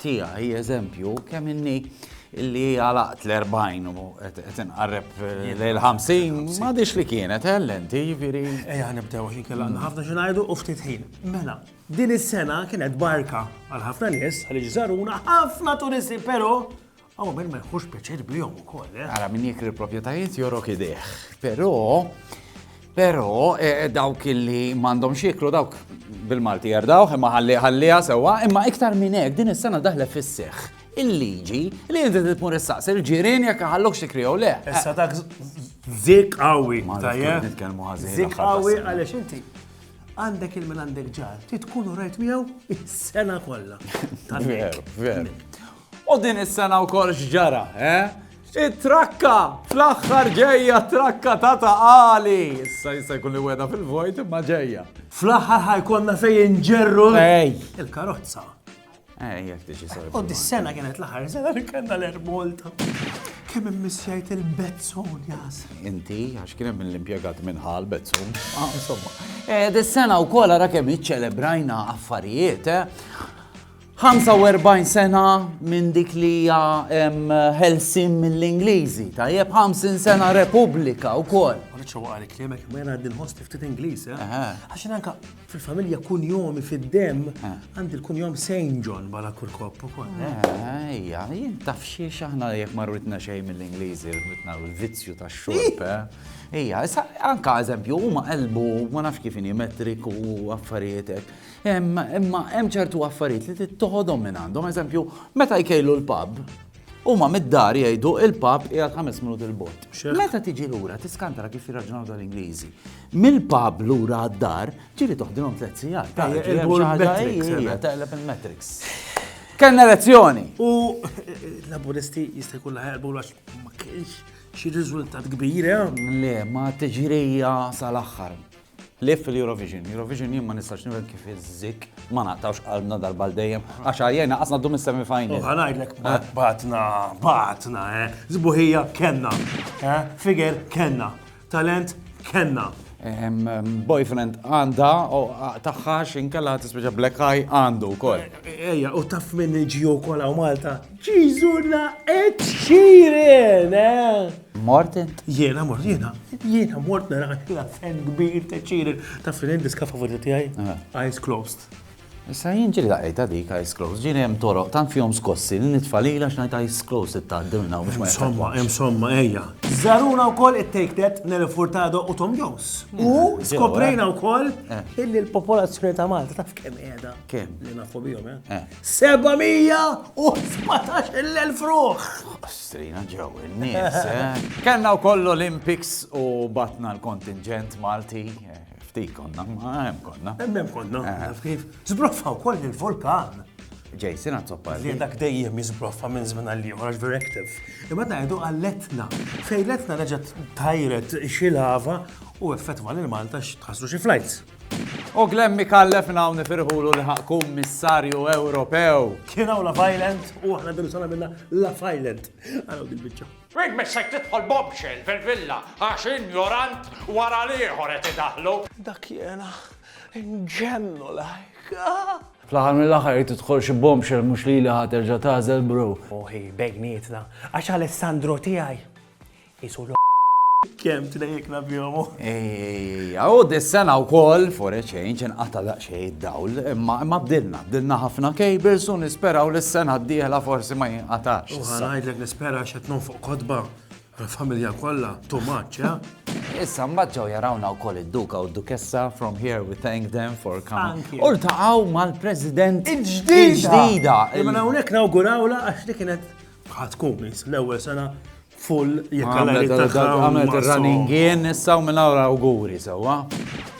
tiegħi eżempju kemm inni illi għalaqt l-40 u qed inqarreb l-50 ma dix li kienet ellenti jiġifieri. Ejja nibdew ħin kellha ħafna xi ngħidu u ftit ħin. Mela, din is-sena kienet barka għal ħafna nies għaliex żaruna ħafna turisti però Aw min ma jħux pjaċir bihom ukoll, eh? Ara min jekri l-proprjetajiet jorok idejh. Però però eh, dawk li m'għandhom xieklu dawk bil-Malti jardawh imma ħalli ħalliha sewwa, imma iktar minn hekk din is-sena daħle fis-seħħ il-liġi li inti titmur issaqs il-ġirien jekk ħallok xi krijew le. Issa dak zik qawwi tajjeb. Nitkellmu ħażin. Zik qawwi għaliex inti għandek il-minn għandek ġar, titkunu rajt miegħu is-sena kollha. Veru, veru. U din is-sena wkoll x'ġara, eh? It-trakka! Fl-aħħar ġejja t-trakka ta' Ta' Qali! Issa jista' jkun li weda fil-vojt imma ġejja. Fl-aħħar ħajkonna fejn inġerru il-karozza. Ej, jek tiġi sar. U dis-sena kienet l-aħħar sena li kellna l-ermolta. Kemm immissjajt il-bezzun, jas. Inti, għax kien hemm l-impjegat minn ħal bezzun. Ah, insomma. Eh, dis-sena wkoll ara kemm iċċelebrajna affarijiet, eh? 45 sena minn dik li hija ħelsin mill-Ingliżi, tajjeb 50 sena Repubblika wkoll. Riċċa waqgħa li kliemek ma jena għandi nħoss ftit Ingliż, eh? għax anka fil-familja kunjomi fid-dem għandi l-kunjom Saint John bala kurkop ukoll. Ejja, jien taf xiex aħna jekk ma rritna xejn mill-Ingliżi, rritna l-vizzju tax-xorb, eh? Ejja, anka eżempju, huma qalbu ma nafx kif metriku u affarijietek. Imma hemm ċertu affarijiet li trid toħodhom minn għandhom, eżempju, meta jkejlu l-pub, huma mid-dar jgħidu il-pub qiegħed ħames minut il-bot. Meta tiġi lura tiskantara kif jirraġunaw tal-Ingliżi. Mill-pub lura għad-dar ġieli toħdilhom tliet sigħat. Taqleb il-metrics. Kellna elezzjoni. U l-laburisti jista' jkun laħerbu għax ma kienx xi riżultat kbir, eh? Le, ma tiġrija sal-aħħar. Ħlief fil-Eurovision. Eurovision jien ma nistax nifhem kif iż-Żikk ma naqtgħux qalbna darba għal dejjem għax għajjejna qas ngħaddu mis-semi-final. U ħanajdlek batna, batna, eh. Sbuħija kellna, eh. Figer kellna. Talent kellna. Ehm, ehm, boyfriend għanda u taħħa xinkella tispeċa black eye għandu kol. Eja, u taf minn ġiju kola u Malta. Ġizuna etxirin, eh? Mort int? Jiena mort, jiena, jiena mort nara l-afen kbir ta' ċiril ta' finin diska favorita tiegħi. Eyes closed. Issa jien ġiri daqqa dik eyes closed, ġiri hemm toroq tant fihom skossi li nitfalila x'ngħid eyes closed ittgħaddi minn hawn biex ma Insomma, insomma, ejja. Żaruna wkoll it-Take That, Nelly Furtado u Tom Jones. U skoprejna wkoll illi l-popolazzjoni ta' Malta taf kemm qiegħda. Kemm? Li nafu bihom, eh? 717,000 ruħ! Strina ġew in-nies, eh? Kellna wkoll Olympics u batna l-kontinġent Malti. Ftit konna, ma hemm konna. Hemm konna, kif? Zbroffa wkoll il-vulkan. Jason għazzoppa. Li dak dejjem jizbroffa minn żmien għal ieħor għax very active. Imma ngħidu għalletna. Fejletna reġgħet tajret xi lava u effettwa lil Malta x'tħassru xi flights. U Glenn Micallef minn hawn nifirħulu li ħa Kummissarju Ewropew. Kien hawn Love Island u aħna din sena minna Love Island. Għaraw din biċċa. Rik missek tidħol bombshell fil-villa għax injorant wara l-ieħor qed idaħlu. Dak jiena nġennu lajk. Fl-aħħar mill-aħħar jrid tidħol xi bombshell mhux lili ħa terġa' tagħżel bro. Moħi bejnietna għax Alessandro tiegħi Isu l Kem tnejjekna bihom. Ejja, u dis-sena wkoll for a change inqata' daqsxejn id-dawl, imma imma bdilna, bdilna ħafna cables u nisperaw li s-sena d-dieħla forsi ma jinqatax. U ħanajdlek nispera x'qed nonfoq kotba għall-familja kollha, too much, ja? Issa mbagħad ġew jarawna wkoll id-Duka u d-Dukessa from here we thank them for coming. U ltaqgħu mal-President il-ġdida. Imma hawnhekk nawgurawla għax li kienet ħatkun l-ewwel sena Full jekk għal Għamlet tagħha u għamlet ma ir-running so- in issa u minn hawn awguri sewwa.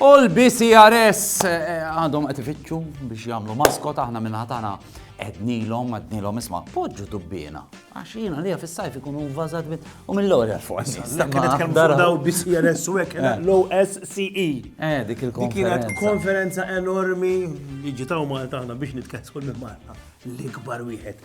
U l-BCRS eh, għadhom qed ifittxu biex jagħmlu maskot aħna minn ħatana għednilhom għednilhom isma' poġġu dubbiena. Għax jiena li fis-sajf ikunu vvażat bit u mill-ewwel fuq. Dak kienet kemm fuq daw BCRS u hekk Eh. low SCE. Eh, dik Dik kienet il-konferenza. konferenza enormi li ġitaw Malta aħna biex nitkellsu minn Malta. L-ikbar wieħed.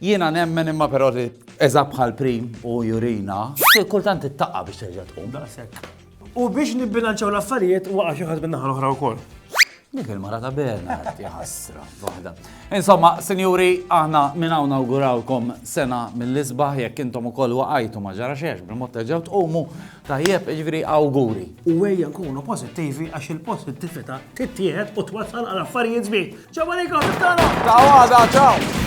Jiena nemmen imma però li eża bħal prim u jurina, kultant ittaqqa biex terġa' tqum. Daqshekk. U biex nibbilanċaw l-affarijiet waqa' xi ħadd min-naħa l-oħra wkoll. Dik il-mara ta' Bernard, jħassra, waħda. Insomma, sinjuri, aħna minn hawn nawgurawkom sena mill-isbaħ jekk intom ukoll waqajtu ma ġara xex bil-mod terġgħu tqumu tajjeb iġviri awguri. U ejja nkunu pożittivi għax il-pożittività tittieħed u twassal għal affarijiet żbieħ. Ġew għalikom, tara! Ta' għada, ċaw!